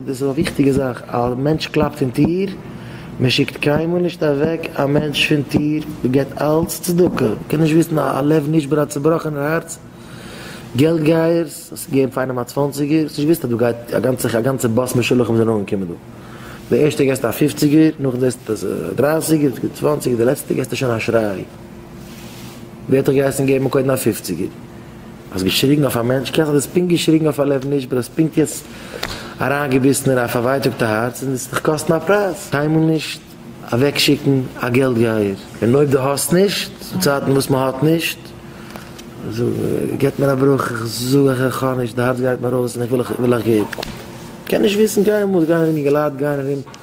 דאס איז א וויכטיגע זאך, א מענטש קלאפט אין טיר, מען שיקט קיינמאל נישט אוועק א מענטש פון טיר, מען געט אלץ צדקה, מען קען נישט וויסן א לב נשבר א צובראכענער הארץ, געלט גייערס, האסט געגעבן פאר איינעם א צוואנציגער, האסט נישט געוויסט אז דא גייט א גאנצע א גאנצע באס משולחים זענען אנגעקומען דא, די ערשטע געסט א פופציגער, נאכדעם זעסטו אז דרייסיגער, צוואנציגער, די לעצטע געסטו שוין א שריי. ווי האט ער געהייסן געבן קודם א פופציגער? האסט געשריגן אויף א מענטש קענסט האסט דאס פונקט געשריגן אויף א לב נשבר האסט פונקט יעצט אריין געביסן אין א פארווייטאגטע הארץ און עס דיך קאסטן א פרייז קיינמאל נישט אוועק שיקן א געלט גייער און אויב די האסט נישט צו צייטן וואס מען האט נישט זאג געט מיר א בראך איך זאג איך איך האב נישט די הארץ גייט מיר אויס און איך וויל איך וויל איך געב קען נישט וויסן קיינמאל גיין ארום אינגעלייט גייען ארום.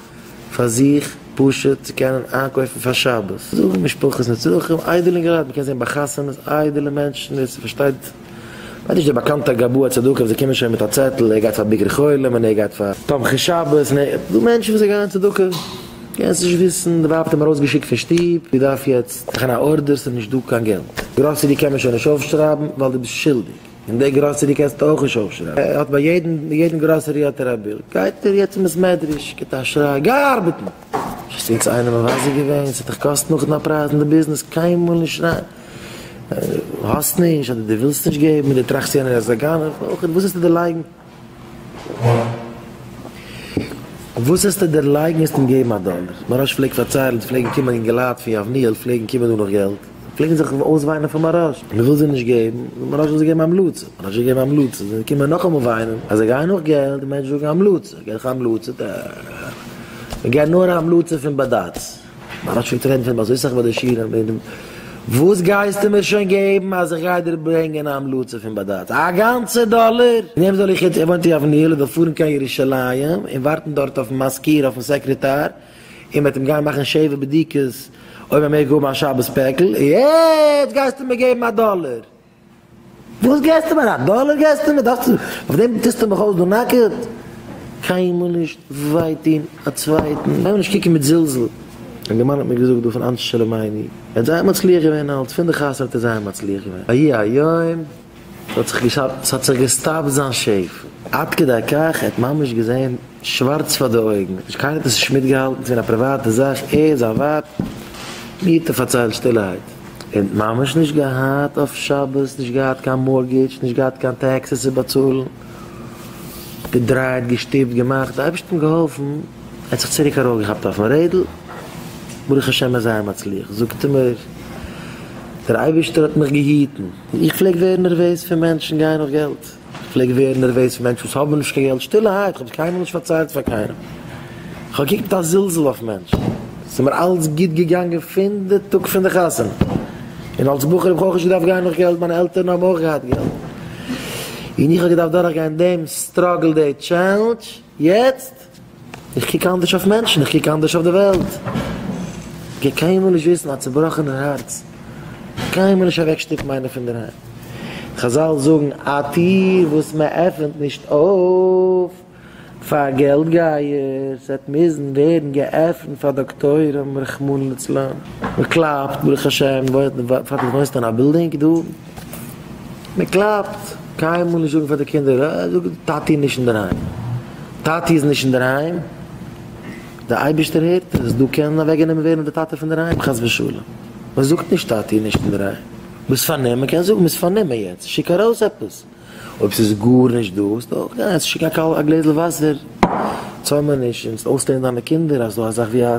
פאר זיך פשוט צו קענען איינקויפן פאר שבת, זאגן משפחות נצרכים, איידעלע אינגעלייט, מ'קען זען ביי חתונות איידעלע מענטשן, ווער ס'פארשטייט וועט נישט דער באקאנטער גבאי הצדקה וואס זיי קומען שוין מיט א צעטל ער גייט פאר ביקור חולים און ער גייט פאר תומכי שבת און ער גייט, דא מענטשן וואס זיי גייען צדקה, קענסט נישט וויסן, די ווייב האט אים ארויסגעשיקט פון שטוב, דו דארף יעצט מאכן א ארדער, ס'איז נישט דא קיין געלט, גראסערי קען מען שוין נישט אויפשרייבן ווייל דו ביסט שולדיג. אין די גראסערי קענסטו אויך נישט אויפשרייבן, ער האט ביי יעדן גראסערי האט ער א בילד, גייט ער יעצט אין בית מדרש, גיבט א שריי, גיי ארבעטן! האסט יעצט איינעם מבזה געווען? ס'וועט דיך קאסטן נאכדעם א פרייז אין די ביזנעס, קיינמאל נישט שרייען ווען דו האסט נישט, אדער דו ווילסט נישט געבן, און דו טראכסט יענער איז א גנב, אויך וואס וועסטו דערלייגן? וואס העסטו דערלייגן וועסט אים געבן א דאלער. מוהראש פלעגט פארציילן עס פלעגן קומען אינגעלייט פון יבניאל פלעגן קומען דא נאך געלט פלעגן זיך אויסוויינען פאר מוהראש מען וויל זיי נישט געבן זאגט מוהראש זאל זיי געבן המלצה מוהראש האט געגעבן המלצה זענען זיי געקומען נאכאמאל וויינען אז זיי גייען נאך געלט די מענטשן זאגן המלצה גיב דיך המלצה ט ע מען געבט נאר המלצה פון בדץ. מען האט שוין טרערן פון באזיסעך ביי די שירעם ווען וואס גייסטו מיר שוין געבן אז איך גיי דיר ברענגען א המלצה פון בדץ? א גאנצע דאלער? וועם זאל איך יעצט עווענטועל אויף ניו יארק פארן קיין ירושלים און ווארטן דארט אויפן מזכיר אויפן סעקרעטאר און מ'עט אים גיין מאכן שבע בדיקות אויב ער מעג האבן א שבת פעקל און יעצט גייסטו מיר געבן א דאלער? וואס געסטו מיר? א דאלער געסטו מיר? דארפסטו אויף דעם טוסטו מיך אויס דא נאקעט? קיינמאל נישט וויי טון א צווייטן, לאז מיר נישט קוקן מיט זלזול, ווען די מאן האט מיר געזאגט דא פון אנשי שלומינו ער זייער מצליח געווען אלץ פון די חתונה האט ער זייער מצליח געווען ויהי היום ס'האט זיך געשאפט ס'האט זיך געסטאפט זיין שפע עד כדי כך ער האט ממש געזען שווארץ פאר די אויגן, האט נישט קיינער דאס נישט מיטגעהאלטן, ס'געווען א פריוואטע זאך, ער און זיין ווייב, מיטה פארציילט שטילערהייט, ער האט ממש נישט געהאט אויף שבת, נישט געהאט קיין מארטגעדזש, נישט געהאט קיין טעקסעס צו באצאלן, געדרייט, געשטופט, געמאכט, די אייבערשטן געהאלפן, ער האט זיך צוריק ארויפגעכאפט אויפן רעדל, ברוך השם ער איז זייער מצליח, זאגט ער מיר, דער אייבערשטער האט מיך געהיטן, איך פלעג ווערן נערוועז פון מענטשן גייען נאך געלט. כ'פלעג ווערן נערוועז פון מענטשן וואס האבן נישט קיין געלט, שטילערהייט, כ'האב עס קיינמאל נישט פארציילט פאר קיינעם, כ'האב געקוקט מיט א זלזול אויף מענטשן, ס'איז מיר אלץ גוט געגאנגען פון די טאג פון די חתונה, און אלץ בחור האב איך אויך נישט געדארפט גיין נאך געלט, מיינע עלטערן האבן אויך געהאט געלט, און איך האב געדארפט דורכגיין דעם סטראגל, די טשעלנדזש, יעצט? איך קוק אנדערש אויף מענטשן, איך קוק אנדערש אויף די וועלט. איך גיי קיינמאל נישט וויסן א צובראכענער הארץ, קיינמאל נישט אוועקשטופן איינער פונדערהיים. חזל זאגן, א טיר וואס מען עפענט נישט אויף פאר געלט גייערס וועט מוזן ווערן געעפנט פאר דאקטוירים רחמנא לצלן. מען קלאפט, ברוך השם, פאר דאס וואוינסטו אין א בילדינג דא. מען קלאפט, קיינמאל נישט זאגן פאר די קינדער אה זאג טאטי איז נישט אינדערהיים, טאטי איז נישט אינדערהיים, די אייבערשטער הערט עס, דא קען אוועקגענומען ווערן די טאטע פון דערהיים חס ושלום, מען זאגט נישט טאטי איז נישט אינדערהיים, ביסט פארנומען, מען קען זאגן ביסט פארנומען יעצט שיק ארויס עפעס, אויב ס'איז גארנישט דא איז דא אויך גיי עס, שיק א גלעזל וואסער, צוימעניש און אויסלערנען דיינע קינדער אז דא אזאך ווי א.